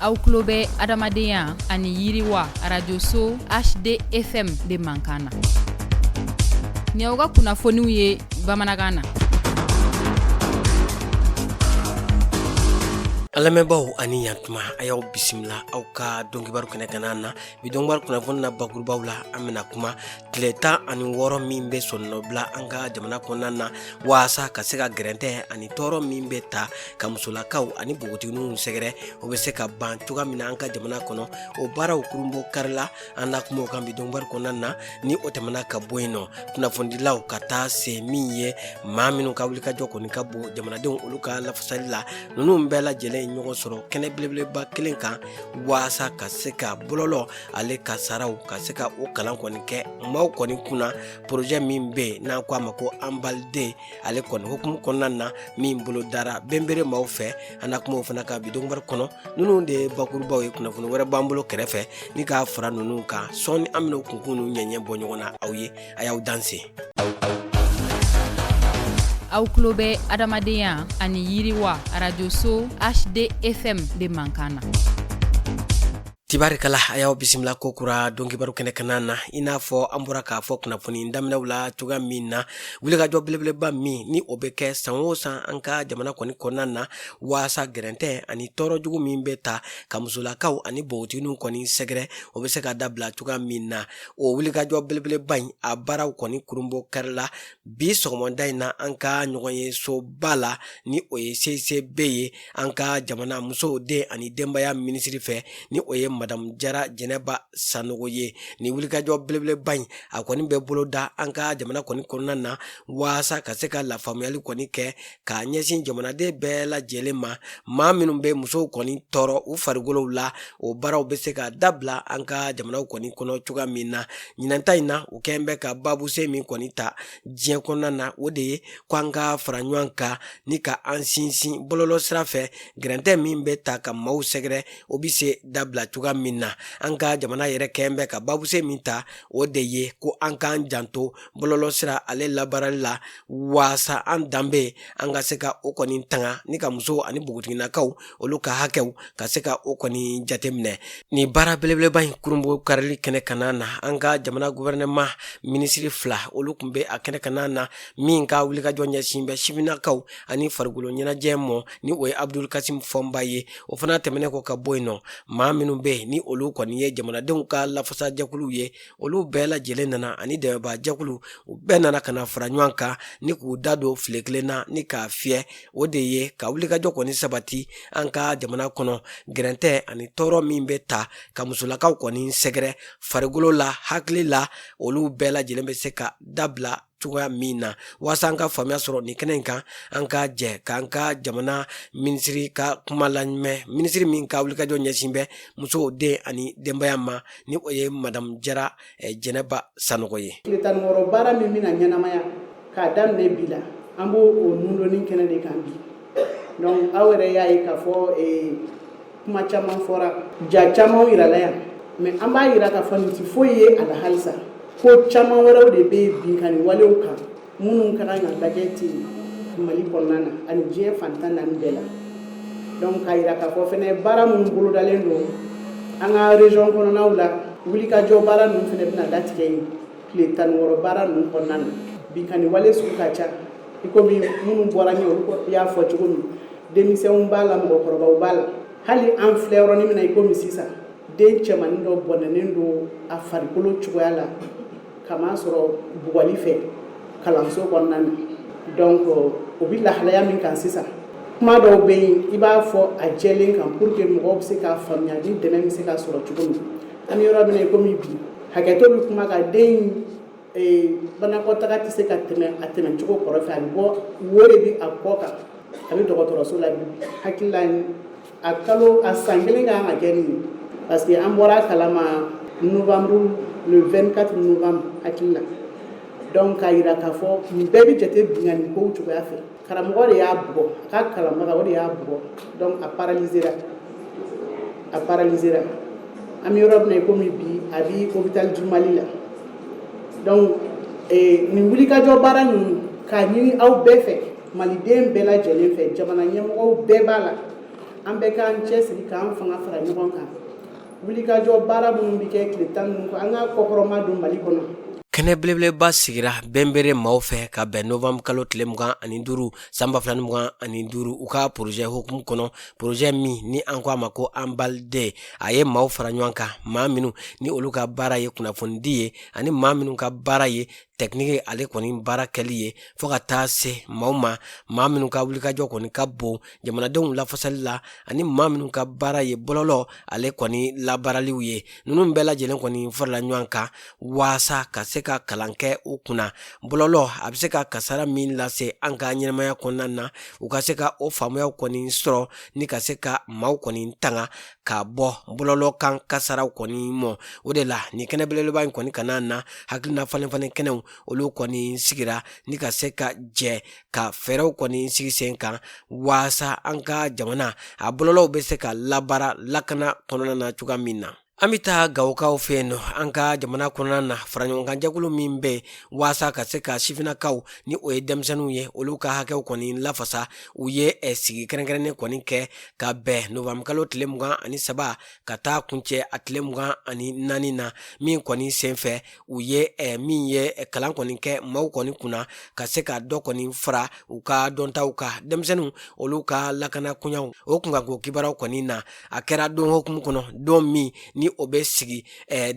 aw tulo bɛ adamadenya ani yiriwa arajoso hdfm de mankan na ni aw ka kunnafoniw ye bamanankan na an lamɛnbaaw ani yantuma a y'aw bisimila aw ka dɔnkibaru kɛnɛ kanna na bi dɔnkibaru kunnafoni na bakurubaww la an bɛna kuma tile tan ani wɔɔrɔ min bɛ sɔnnɔbila an ka jamana kɔnɔna na waasa ka se ka gɛrɛntɛ ani tɔɔrɔ min bɛ ta ka musolakaw ani npogotigininw sɛgɛrɛ o bɛ se ka ban cogoya min na an ka jamana kɔnɔ o baaraw kurunbonkarila an na kuma o kan bi dɔnkibaru kɔnɔna na ni o tɛmɛna ka bɔ yen nɔ kunnafonidilaw ka taa se min ye maa minnu ka wulikajɔ kɔni ka bon jamanadenw olu ka lafasali la ninnu bɛɛ lajɛlen ye ɲɔgɔn sɔrɔ kɛnɛ belebeleba kelen kan waasa ka se ka bɔlɔlɔ ale kasaaraw ka se ka o kalan kɔni kɛ maaw kɔni kunna porojɛ min bɛ yen n'an ko a ma ko anbaliden ale kɔni hukumu kɔnɔna na min bolo dara benbere maaw fɛ an na kuma o fana kan bi dɔnkibaru kɔnɔ ninnu de ye bakurubaw ye kunnafoni wɛrɛ b'an bolo kɛrɛfɛ ni k'a fara ninnu kan sɔɔni an bɛna o kunkun n'u ɲɛɲɛ bɔ ɲɔgɔn na aw ye a y'aw danse aw tulo bɛ adamadenya ani yiriwa arajoso hdfm de mankan na tibarikala a y'aw bisimila ko kura dɔnkibaru kɛnɛ kanna na i n'a fɔ an bɔra k'a fɔ kunnafoni daminɛw la cogoya min na wulikajɔ belebeleba min ni o bɛ kɛ san o san an ka jamana kɔni kɔnɔna na waasa gɛrɛntɛ ani tɔɔrɔ jugu min bɛ ta ka musolakaw ani npogotigininw kɔni sɛgɛrɛ o bɛ se ka dabila cogoya min na o wulikajɔ belebeleba in a baaraw kɔni kurunbonkarila bi sɔgɔmada in na an ka ɲɔgɔnyesoba la ni o ye cicb ye an ka jamana musow den ani denbaya minisiri fɛ ni o ye madamu jara jɛnɛba sanogo ye ni wulikajɔ belebeleba in a kɔni bɛ boloda an ka jamana kɔni kɔnɔna na waasa ka se ka lafaamuyali kɔni kɛ k'a ɲɛsin jamanaden bɛɛ lajɛlen ma maa minnu bɛ musow kɔni tɔɔrɔ u farikolow la o baaraw bɛ se ka dabila an ka jamanaw kɔni kɔnɔ cogoya min na ɲinanta in na u kɛn bɛ ka baabuse min kɔni ta diɲɛ kɔnɔna na o de ye ko an ka fara ɲɔgɔn kan ni ka an sinsin bɔlɔlɔ sira fɛ gɛrɛntɛ min bɛ ta ka maaw sɛgɛrɛ o bɛ se dabila cogoya min na an ka jamana yɛrɛ kɛn bɛ ka babuse min ta o de ye ko an k'an janto bɔlɔlɔ sira ale labaarali la waasa an danbe an ka se ka o kɔni tanga ni ka musow ani npogotiginakaw olu ka hakɛw ka se ka o kɔni jateminɛ ni baara belebeleba in kurunbonkarili kɛnɛ kanna na an ka jamana gɔfɛrɛnaman minisiri fila olu kun bɛ a kɛnɛ kanna na min ka wulikajɔ ɲɛsin bɛ sifinnakaw ani farikolo ɲɛnajɛ ma ni o ye abudul kasim fɔnba ye o fana tɛmɛnen kɔ ka bɔ yen nɔ maa minnu bɛ yen ni olu kɔni ye jamanadenw ka lafasajɛkuluw ye olu bɛɛ lajɛlen nana ani dɛmɛbaajɛkulu u bɛɛ nana ka na fara ɲɔgɔn kan ni k'u da don file kelen na ni k'a fiyɛ o de ye ka wulikajɔ kɔni sabati an ka jamana kɔnɔ gɛrɛntɛ ani tɔɔrɔ min bɛ ta ka musolakaw kɔni sɛgɛrɛ farikolo la hakili la olu bɛɛ lajɛlen bɛ se ka dabila cogoya min na waasa an ka faamuya sɔrɔ nin kɛnɛ in kan an ka jɛ k'an ka jamana minisiri ka kuma lamɛn minisiri min ka wulikajɔ ɲɛsin bɛ musow den ani denbaya ma ni o ye madamu jara eh, jɛnɛba sanɔgɔ ye tile tan ni wɔɔrɔ baara min bɛna ɲɛnamaya k'a daminɛ bi la an b'o o nundoni kɛnɛ de kan bi donc aw yɛrɛ y'a ye k'a fɔ eh, kuma caman fɔra ja camanw yirala yan mais an b'a yira k'a fɔ nin tɛ foyi ye a la halisa ko caman wɛrɛw de bɛ yen binkanni walew kan minnu ka kan ka lajɛ ten mali kɔnɔna na ani diɲɛ fan tan naani bɛɛ la donc k'a yira k'a fɔ fɛnɛ baara minnu bolodalen don an ka région kɔnɔnaw la wulikajɔ baara ninnu fɛnɛ bɛna latigɛ yen tile tan ni wɔɔrɔ baara ninnu kɔnɔna na binkanni wale sugu ka ca i komi minnu bɔra ɲɛ olu y'a fɔ cogo min denmisɛnw b'a la mɔgɔkɔrɔbaw b'a la hali an filɛ yɔrɔnin min na i komi sisan den cɛmanin dɔ bɔnɛnen don a farikolo cogoya la k'a masɔrɔ bugɔli fɛ kalanso kɔnɔna na donc o bɛ lahalaya min kan sisan kuma dɔw bɛ yen i b'a fɔ a jɛlen kan pour que mɔgɔw bɛ se k'a faamuya ni dɛmɛ bɛ se ka sɔrɔ cogo min an bɛ yɔrɔ min na i komi bi hakɛto bɛ kuma kan den banakɔtaa tɛ se ka tɛmɛ a tɛmɛ cogo kɔrɔ fɛ a bɛ bɔ wo de bɛ a kɔ kan a bɛ dɔgɔtɔrɔso la bi hakili a kalo a san kelen kan ka kɛ nin ye parce que an bɔra a kalama novembre le vingt-quatre novembre hakili la donc k'a yira k'a fɔ nin bɛɛ bɛ jate binkanni kow cogoya fɛ karamɔgɔ de y'a bugɔ a ka kalanbaga o de y'a bugɔ donc a paralizera a paralizera an bɛ yɔrɔ min na i komi bi a bɛ hôpital du mali la donc nin wulikajɔ baara ninnu k'a ɲini aw bɛɛ fɛ maliden bɛɛ lajɛlen fɛ jamana ɲɛmɔgɔw bɛɛ b'a la an bɛ k'an cɛsiri k'an fanga fara ɲɔgɔn kan wulikajɔ baara minnu bɛ kɛ tile tan ninnu an ka kɔkɔrɔma don mali kɔnɔ kɛnɛ belebeleba sigira benbere maaw fɛ ka bɛn novembre kalo tile mugan ani duuru san ba fila ni mugan ani duuru u ka porozɛ hukumu kɔnɔ porozɛ min ni an ko a ma ko anbalde a ye maaw fara ɲɔgɔn kan maa minnu ni olu ka baara ye kunnafonidi ye ani maa minnu ka baara ye technique ale kɔni baara kɛli ye fo ka taa se maaw ma maa minnu ka wulikajɔ kɔni ka bon jamanadenw lafasali la ani maa minnu ka baara ye bɔlɔlɔ ale kɔni labaaraliw ye ninnu bɛɛ lajɛlen kɔni farala ɲɔgɔn kan waasa ka se ka kalan kɛ u kunna bɔlɔlɔ a bɛ se ka kasara min lase an ka ɲɛnamaya kɔnɔna na u ka se ka o faamuyaw kɔni sɔrɔ ni ka se ka maaw kɔni tanga ka bɔ bɔlɔlɔ kan kasaraw kɔni mɔ o de la nin kɛnɛ belebeleba in kɔni kana na hakilina falenfalen kɛnɛw olu kɔni sigira ni ka se ka jɛ ka fɛɛrɛw kɔni sigi sen kan waasa an ka jamana a bɔlɔlɔw bɛ se ka labaara lakana kɔnɔna na cogoya min na an bɛ taa gawokaw fɛ yen nɔ an ka jamana kɔnɔna na faraɲɔgɔnkanjɛkulu min bɛ yen waasa ka se ka sifinnakaw ni o ye denmisɛnninw ye olu ka hakɛw kɔni lafasa u ye eh, sigi kɛrɛnkɛrɛnnen kɔni kɛ ka bɛn nowanburukalo tile mugan ani saba ka taa kuncɛ a tile mugan ani naani na min kɔni senfɛ u ye eh, min ye eh, kalan kɔni kɛ maaw kɔni kunna ka se ka dɔ kɔni fara u ka dɔntaw kan denmisɛnninw olu ka lakana koɲaw o kunkanko kibaruyaw kɔni na a kɛra don hukumu kɔnɔ don min ni o bɛ sigi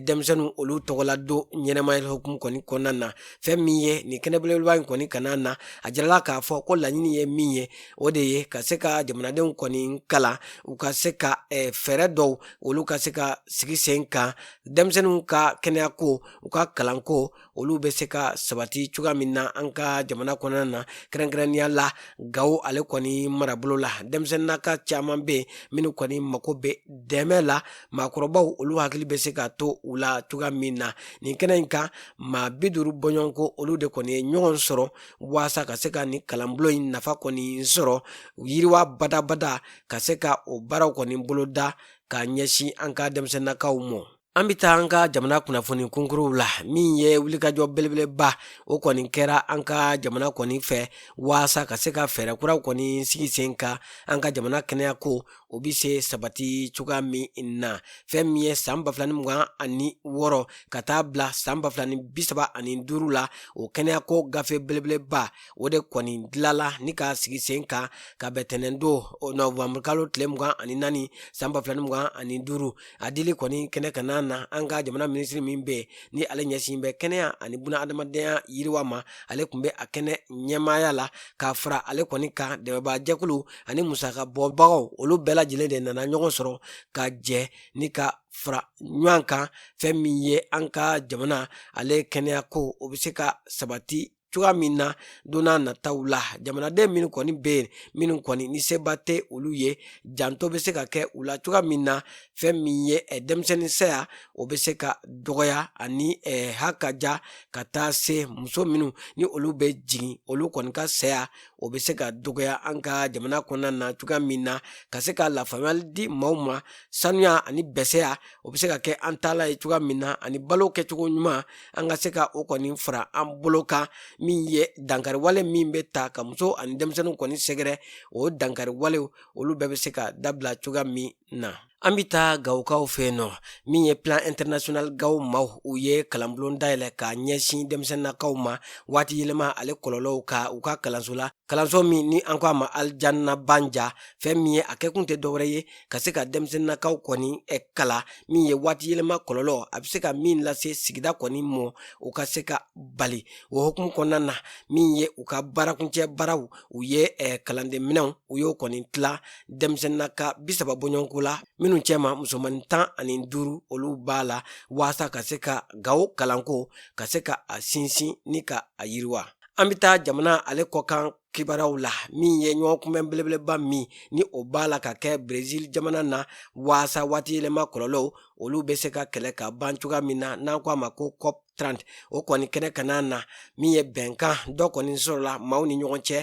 denmisɛnninw olu tɔgɔla don ɲɛnamaya hukumu kɔni kɔnɔna na fɛn min ye nin kɛnɛ belebeleba in kɔni kana na a jirala k'a fɔ ko laɲini ye min ye o de ye ka se ka jamanadenw kɔni kalan u ka se ka eh, fɛɛrɛ dɔw olu ka se ka sigi sen kan denmisɛnninw ka kɛnɛyako u ka kalanko olu bɛ se ka sabati cogoya min na an ka jamana kɔnɔna na kɛrɛnkɛrɛnnenya la gawo ale kɔni marabolo la denmisɛnninnaka caman bɛ yen minnu kɔni mako bɛ dɛmɛ la maakɔrɔbaw olu hakili bɛ se ka to u la cogoya min na nin kɛnɛ in kan maa bi duuru bɔɲɔgɔnko olu de kɔni ye ɲɔgɔn sɔrɔ waasa ka se ka nin kalanbulon in nafa kɔni sɔrɔ yiriwa badabada ka se ka o baaraw kɔni boloda ka ɲɛsin an ka denmisɛnninnakaw mɔ an bɛ taa an ka jamana kunnafoni kunkuruw la min ye wulikajɔ belebeleba o kɔni kɛra an ka jamana kɔni fɛ waasa ka se ka fɛɛrɛ kuraw kɔni sigi sen kan an ka jamana kɛnɛyako o bɛ se sabati cogoya min na fɛn min ye san ba fila ni mugan ani wɔɔrɔ ka taa bila san ba fila ni bi saba ani duuru la o kɛnɛyako gafe belebeleba o de kɔni dilala ni ka sigi sen kan ka bɛn tɛnɛndon nowanburukalo tile mugan ani naani san ba fila ni mugan ani duuru a dili kɔni kɛnɛ kana na an ka jamana minisiri min bɛ ni ale ɲɛsin bɛ kɛnɛya ani buna adamadenya yiriwa ma ale tun bɛ a kɛnɛ ɲɛmaaya la ka fara ale kɔni kan dɛmɛbaajɛkulu ani musaka bɔbagaw olu bɛɛ lajɛlen de nana ɲɔgɔn sɔrɔ ka jɛ ni ka fara ɲɔgɔn kan fɛn min ye an ka jamana ale kɛnɛyako o bɛ se ka sabati cogoya min na don nataw la jamanaden minnu kɔni bɛ yen minnu kɔni ni seba tɛ olu ye janto bɛ se ka kɛ u la cogoya min na fɛn min ye eh, denmisɛnnin saya o bɛ se ka dɔgɔya ani eh, hakaja ka taa se muso minnu ni olu bɛ jigin olu kɔni ka saya o bɛ se ka dɔgɔya an ka jamana kɔnɔna na cogoya min na ka se ka lafaamuyali di maaw ma sanuya ani bɛsɛya o bɛ se ka kɛ an taalan ye cogoya min na ani balo kɛcogo ɲuman an ka se ka o kɔni fara an bolo kan min ye dankariwale min bɛ taa ka muso ani denmisɛnninw kɔni sɛgɛrɛ o dankariwalew olu bɛɛ bɛ se ka dabila cogoya min na an bɛ taa gawokaw fɛ yen nɔ min ye plan international gawo maaw u ye kalanbulon dayɛlɛ ka ɲɛsin denmisɛnninkaw ma waati yɛlɛma ale kɔlɔlɔw kan u ka kalanso la kalanso min ni an ko a ma alijannabanja fɛn min ye a kɛkun tɛ dɔwɛrɛ ye ka se ka denmisɛnninkaw kɔni kalan min ye waati yɛlɛma kɔlɔlɔ a bɛ se ka min lase sigida kɔni ma u ka se ka bali o hukumu kɔnɔna na min ye u ka baarakuncɛ baaraw u ye kalanden minɛnw u y'o kɔni tila denmisɛnninka bi saba bɔɲɔgɔnko la minnu cɛma musomannin tan ani duuru olu b'a la waasa ka se ka gawo kalanko ka se ka a sinsin ni ka a yiriwa an bɛ taa jamana ale kɔkan kibaruyaw la min ye ɲɔgɔn kunbɛn belebeleba min ni o b'a la ka kɛ brezil jamana na waasa waati yɛlɛma kɔlɔlɔw olu bɛ se ka kɛlɛ ka ban cogoya min na n'an ko a ma ko cop trante o kɔni kɛnɛ kanna na min ye bɛnkan dɔ kɔni sɔrɔla maaw ni ɲɔgɔn cɛ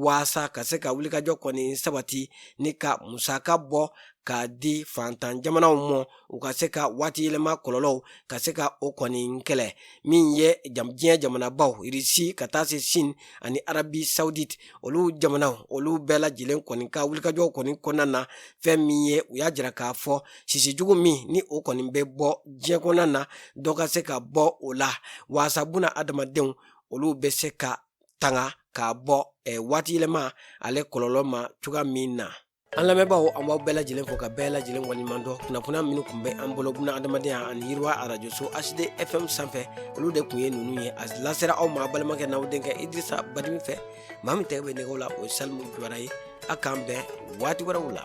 waasa ka se ka wulikajɔ kɔni sabati ni ka musaka bɔ ka di faantan jamanaw ma u ka se ka waati yɛlɛma kɔlɔlɔw ka se ka o kɔni kɛlɛ min ye diɲɛ jamanabaw irisi ka taa se sini ani arabi sawudit olu jamana olu bɛɛ lajɛlen kɔni ka wulikajɔ kɔni kɔnɔna na fɛn min ye u y'a jira k'a fɔ sisijugu min ni o kɔni bɛ bɔ diɲɛ kɔnɔna na dɔ ka se ka bɔ o la waasa buna adamadenw olu bɛ se ka tanga k'a bɔ eh, waati yɛlɛma ale kɔlɔlɔ ma cogoya min na An lamɛnbaaw an b'aw bɛɛ lajɛlen fo ka bɛɛ lajɛlen waleɲumandɔn kunnafoniya minnu kun bɛ an bolo buna hadamadenya ani yiriwa arajoso HD FM sanfɛ olu de kun ye ninnu ye a lasera aw ma a' balimakɛ n'aw denkɛ Idirisa Badini fɛ maa min tɛgɛ bɛ nɛgɛw la o ye Salimu Jawara ye a' k'an bɛn waati wɛrɛw la